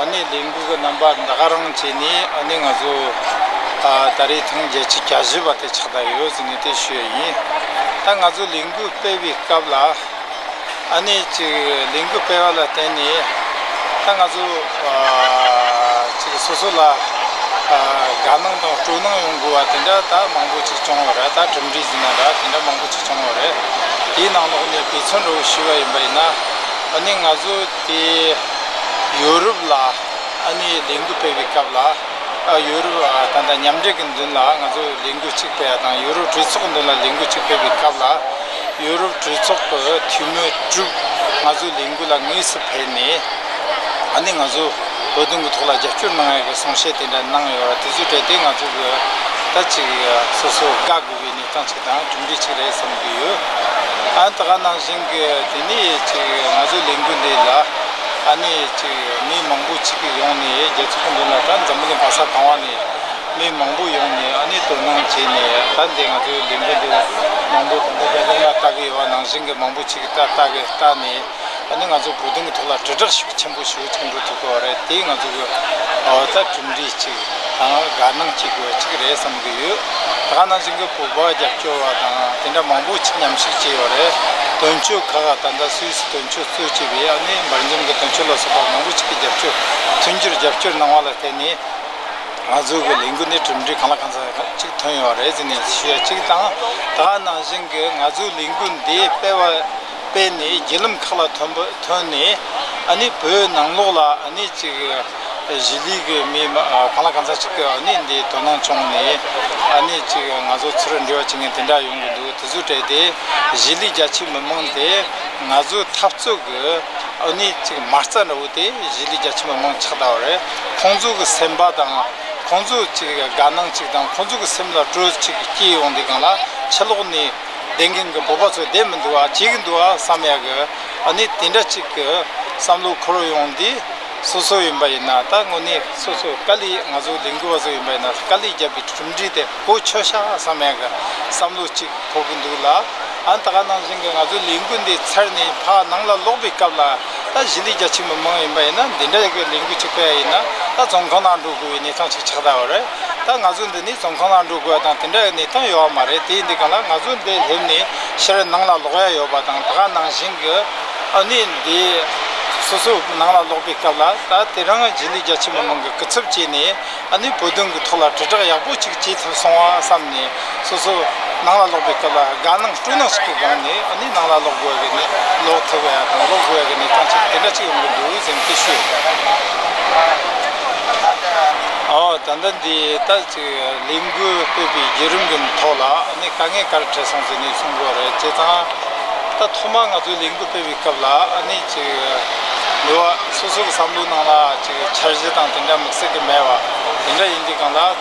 ཨ་ནེ་ལས་འགུལ་གྱི་རྣམ་པ་འདི་ག་རང་བྱས་ནས་ཨ་ནེ་ང་ཚོ་ད་རེས་ཐེངས་བརྒྱད་ཅུ་གྱ་བཞི་པ་དེ་ཕྱག་དར་ཡོད་ཟེར་ནས་དེ་ཞུས་ཡ་ཡིན། ད་ང་ཚོ་ལས་འགུལ་སྤེལ་བའི་སྐབས་ལ་ཨ་ནེ་ཅིག་ལས་འགུལ་སྤེལ་བ་ལ་བརྟེན་ནས་ད་ང་ཚོ་ཅིག་སོ་སོ་ལ་དགའ་སྣང་དང་སྤྲོ་སྣང་ཡོང་དགོས་བ་དེ་འདྲ་ད་མང་པོ་ཅིག་བྱུང་བ་རེད་ད་གྲུབ་འབྲས་ཟེར་ན་འདྲ་དེ་འདྲ་མང་པོ་ཅིག་བྱུང་བ་རེད། དེའི་ནང་ལོགས་ནས་བེད་བརྩོན་འགྲོ་བའི་ཞུས་བ་ཡིན་པ་ཡིན་ན་ཨ་ནེ་ང་ཚོ། དེ་ཡོ་རུབ་ལ་ཨ་ནེའི་ལས་འགུལ་སྤེལ་བའི་སྐབས་ལ་ཡོ་རུབ་དང་འདྲ་མཉམ་འབྲེལ་གྱི་མདུན་ལ་ང་ཚོས་ལས་འགུལ་གཅིག་སྤེལ་བ་དང་ཡོ་རུབ་གྲོས་ཚོགས་མདུན་ལ་ལས་འགུལ་གཅིག་སྤེལ་བའི་སྐབས་ལ་ཡོ་རུབ་གྲོས་ཚོགས་ཀྱི་འཐུས་མི་དྲུག་ང་ཚོའི་ལས་འགུལ་ལ་དངོས་སུ་ཕེབས་ནས་ཨ་ནེ་ང་ཚོའི་བོད་དོན་གྱི་ཐོག་ལ་རྒྱབ་སྐྱོར་གནང་ཡོད་པའི་གསུང་བཤད་དེ་འདྲ་གནང་ཡོད་པ་དེ་ཚོའི་གྲས་དེ་ང་ཚོ་གིས་ད་ཅིག་སོ་སོ་དགའ་དགོས་པའི་ཀྱང་ཅིག་དང་གྲུབ་འབྲས་ཅིག་རེད་བསམ་གྱི་ཡོད། ཨ་ད་ག་ནང་བཞིན་གྱི་དེ་ནས་ཅིག་ང་ཚོའི་ལས་འགུལ་འདི་ལ་ཨ་ནས་ཅིག་མི་མང་པོ་ཅིག་ཡོང་ནས་རྒྱལ་ཚོགས་སྐུ་མདུན་ལ་ད་འཛམ་བུ་གླིང་བ་ས་གང་བ་ནས་མི་མང་པོ་ཡོང་ནས་ཨ་ནས་དོ་སྣང་བྱས་ནས་ད་འདི་ང་ཚོའི་ལས་འགུལ་འདི་མང་པོ་དང་པོ་རྒྱ་གར་ན་ལྟ་གི་ཡོད་བ་ནང་བཞིན་གྱི་མང་པོ་ཅིག་ལྟ་གི་ལྟ་ནས། ད་ནི་ང་ཚོ་བོད་དོན་གྱི་ཐོག་ལ་དྲིལ་བསྒྲགས་ཤུགས་ཆེན་པོ་ཞུ་ཐུབ་འགྲོ་ཐུབ་དགོས་བ་རེད་དེ་ང་ཚོ་གི་འོ་ད་གྲུབ་འབྲས་ཅིག་དང་དགའ་སྣང་ཅིག་དགོས་ཅིག་རེད་བསམ་གྱི་ཡོད་དགའ་སྣང་ཅིག་གི་ཕུག་པ་རྒྱབ་སྐྱོར་བ་དང་དེ་འདྲ་མང་པོ་ཆེ་མཉམ་ཞུགས་བྱས་ཡོད་རེད་དོན་གཅོད་ཁག་ད་ལྟ་སུད་སི་དོན་གཅོད་གཙོས་བྱས་པའི་ཨ་ནེ་འབར་འཇོམས་ཀྱི་དོན་གཅོད་ལ་སོགས་པ་མང་པོ་ཅིག་གི་རྒྱབ་སྐྱོར་མཐུན་འགྱུར་རྒྱབ་སྐྱོར་གནང་བ་ལ་བརྟེན་ནས་ང་ཚོ་གི་ལས་འགུལ་འདི་གྲུབ་འབྲས་གང་ལ་གང་ཟག་ཅིག་ཐོན་ཡོད་བ་རེད་ཟེར་ནས་ཞུ་ཡ་གཅིག་དང་དགའ་སྣང་ཅིག་གི་ང་ཚོའི་ལས་འགུལ་འདི་སྤེལ་བ། སྤེལ་ནས་བརྒྱུད་ལམ་ཁག་ལ་ཐོན་ནས་ནི་བོད་ནང་ལོགས་ལ་ནི་ཅིག་གཞིས་ལུས་ཀྱི་མི་གང་ལ་གང་འཚམ་ཞིག་གིས་ནི་འདི་དོ་སྣང་བྱུང་ནས་ནི་ཅིག་ང་ཚོ་ཚུར་འབྲེལ་བ་བྱེད་མཁན་དེ་འདྲ་ཡོང་གི་འདུག་དེ་ཚོ་བྲལ་ཏེ་གཞིས་ལུས་རྒྱ་ཆེའི་མི་མང་དེ་ང་ཚོའི་འཐབ་རྩོད་ཀྱི་ནི་ཅིག་མ་རྩ་འདྲ་བོ་དེ་གཞིས་ལུས་རྒྱ་ཆེའི་མི་མང་ཆགས་ལྟ་བུ་རེད་ཁོང་ཚོ་གི་སེམས་པ་དང་ཁོང་ཚོ་ཅིག་དགའ་སྣང་ཅིག་དང་ཁོང་ཚོ་གི་སེམས་ལ་སྤྲོ་ཅིག་སྐྱེས་ཡོང་དེ་གང་ལ་ཕྱི་ལོགས་ནི། བདེན་གིན་གི་བོད་པ་ཚོ་བདེན་མི་འདུག་ཨ་བྱེད་གིན་འདུག་ཨ་བསམ་ཡག་གི་ཨ་ནི་དེ་འདྲ་གཅིག་གི་བསམ་བློ་འཁོར་ཡོང་འདི་སོ་སོ་ཡིན་པ་ཡིན་ན་ད་དངོས་གནས་སོ་སོ་དཀའ་ལས་ང་ཚོ་ལས་འགུལ་བ་ཚོ་ཡིན་པ་ཡིན་ན་དཀའ་ལས་རྒྱབ་པའི་གྲུབ་འབྲས་དེ་གོ་ཆོད་ཤག་ཨ་བསམ་ཡག་གི་བསམ་བློ་གཅིག་འཁོར་གིན་འདུག་ལ་ཨ་ད་ག་ནང་བཞིན་གི་ང་ཚོ་ལས་འགུལ་འདི་ཚར་ནས་ཕག་ནང་ལ་ལོག་པའི་སྐབས་ལ་ད་གཞི་ལས་རྒྱ་ཆེ་མི་མང་ཡིན་པ་ཡིན་ན་འདི་འདྲ་གི་ལས་འགུལ་གཅིག་སྤེལ་ཡ་ཡིན་ན་ད་རྫོང་ཁོ་ནང་འགྲོ་དགོས་པའི་གནས་སྟངས་ཆགས་ཆགས་གདའ་བ་རེད། ད་ང་ཚོ་འདི་ནས་རྫོང་གང་ལ་འགྲོ་དགོས་དང་དེ་འདྲ་ཡོད་ནི་ཐོན་ཡོད་མ་རེད་དེ་འདི་ག་ལ་ང་ཚོ་འདི་སླེབས་ནས་ཕྱིར་ནང་ལ་ལོག་ཡ་ཡོད་པ་དང་ད་ག་ནང་བཞིན་གྱི་ཨ་ནི་འདི་སོ་སོ་ནང་ལ་ལོག་པའི་སྐབས་ལ་ད་དེ་རང་རྗེས་ལུས་རྒྱ་ཆེན་པོ་མང་གི་སྐུ་ཚབ་བྱས་ནས་ཨ་ནི་བོད་དོན་གྱི་ཐོག་ལ་དྲིལ་བསྒྲགས་ཡག་པོ་ཅིག་བྱེད་ཐུབ་སོང་བ་བསམ་ནས་སོ་སོ་ནང་ལ་ལོག་པའི་སྐབས་ལ་དགའ་སྣང་སྤྲོ་སྣང་ཞིག་གི་སྒང་ནས་ཨ་ནི་ནང་ལ་ལོག་དགོས་གི་ནི་ལོག་ཐུབ་ཡ་དང་ལོག་དགོས་གི་ནི་ཐང་ཆད་དེ་འདྲ་ཅིག་ཡོང་གི་འདུག་སེམས་ཀི་ཤོད། ད་ལྟ་འདི་ལྟ་ཅིག་ལས་འགུལ་སྤེལ་པའི་བརྒྱུད་རིམ་གི་ཐོག་ལ་ཨ་ནི་དཀའ་ངལ་ག་རེ་འཕྲད་སོང་ཟེར་ནས་གསུང་རོགས་རེད་བྱས་ཙང། ད་ཐོག་མར་ང་ཚོའི་ལས་འགུལ་སྤེལ་བའི་སྐབས་ལ་ཨ་ནི་ཅིག་འདི་བ་སོ་སོ་གི་བསམ་བློའི་ནང་ལ་ཅིག་འཆར་གཞི་དང་དེ་འདྲ་དམིགས་བསལ་གི་མེད་བ་དེ་འདྲ་ཡིན་གི་སྒང་ལ།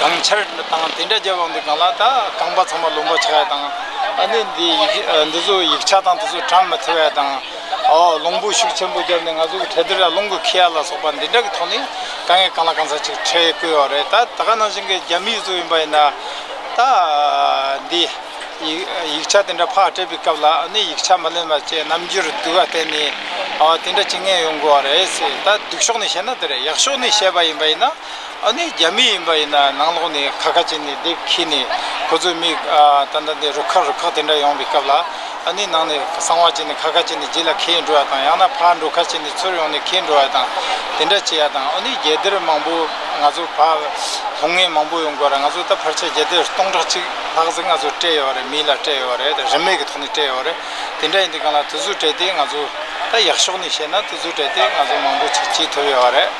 གངས་ཆར་དང་དེ་འདྲ་རྒྱབ་ཡོང་དུས་གངས་ལ་ད་རྐང་པ་ཚང་མ་ལུང་པ་ཆགས་ཡས་དང། ཨ་ནི་འདི་འདི་ཚོ་ཡིག་ཆ་དང་དེ་ཚོ་བགྲང་མི་ཐུབ་ཡས་དང། ཨོ་ལུང་པོ་ཤུགས་ཆེན་པོ་བརྒྱབ་ནས་ང་ཚོ་གི་གྲལ་དེ་ར་ལུང་གི་ཁི་ཡ་ལ་སོགས་པ་འདི་འདྲ་གི་ཐོག་ནས་ག་ངས་གང་ལ་གང་ཟ་ཅིག་ཁྲལ་བསྐུལ་བ་རེད་ད་ད་ག་ནང་བཞིན་གི་རྒྱ་མི་ཡིག་ཚོ་ཡིན་པ་ཡིན་ན། ད་འདི་ཡིག་ཆ་དེ་འདྲ་ཕག་སྤྲད་པའི་སྐབས་ལ་ཨ་ནི་ཡིག་ཆ་མ་ལོན་པ་བཅས་རྣམ་འགྱུར་སྡུག་ག་བསྟན་ནས་ཨོ་དེ་འདྲ་བྱེད་ངེས་ཡོང་དགོས་བ་རེད་ཟེར་ད་སྡུག་ཕྱོགས་ནས་བཤད་ན་དེ་རེད་ཡག་ཕྱོགས་ནས་བཤད་པ་ཡིན་པ་ཡིན་ན། ཨ་ནེ་རྒྱ་མི་ཡིན་པ་ཡིན་ན་ནང་ལོག་ནས་ཁ་ཁ་བྱས་ནས་སྡེབ་ཁྱེར་ནས་ཁོ་ཚོའི་མི་ད་ད་དེ་རུ་ཁག་རུ་ཁག་དེ་འདྲ་ཡོང་བའི་སྐབས་ལ་ཨ་ནེ་ནང་ནས་གསང་བ་བྱས་ནས་ཁ་ཁ་བྱས་ནས་རྗེས་ལ་ཁེལ་འགྲོ་བ་དང་ཡང་ན་ཕར་འགྲོ་ཁ་བྱས་ནས་ཚུར་ཡོང་ནས་ཁེལ་འགྲོ་བ་དང་དེ་འདྲ་བྱས་ཡ་དང་ཨོ་ནེ་རྒྱལ་དར་མང་པོ་ང་ཚོ་ཕ་ལྷོ་ངའི་མང་པོ་ཡོང་དགོས་ར་ང་ཚོ་ད་ཕར་ཆ་རྒྱལ་དར་སྟོང་ཕྲག་གཅིག་ལྷག་ཟིག་ང་ཚོ་སྤྲད་ཡོད་རེད་མིའི་ལ་སྤྲད་ཡོད་རེད་རིན་མེད་ཀྱི་ཐོག་ནས་སྤྲད་ཡོད་རེད་དེ་འདྲ་ཡིན་དུས་གང་ལ་དུས་ཚོད་སྤྲད་དེ་ང་ཚོ་ད་ཡག་ཕྱོགས་ནས་བཤད་ན་དུས་ཚོད་སྤྲད་དེ་ང་ཚོ་མང་པོ་བྱེད་ཐུབ་ཡོད་རེད།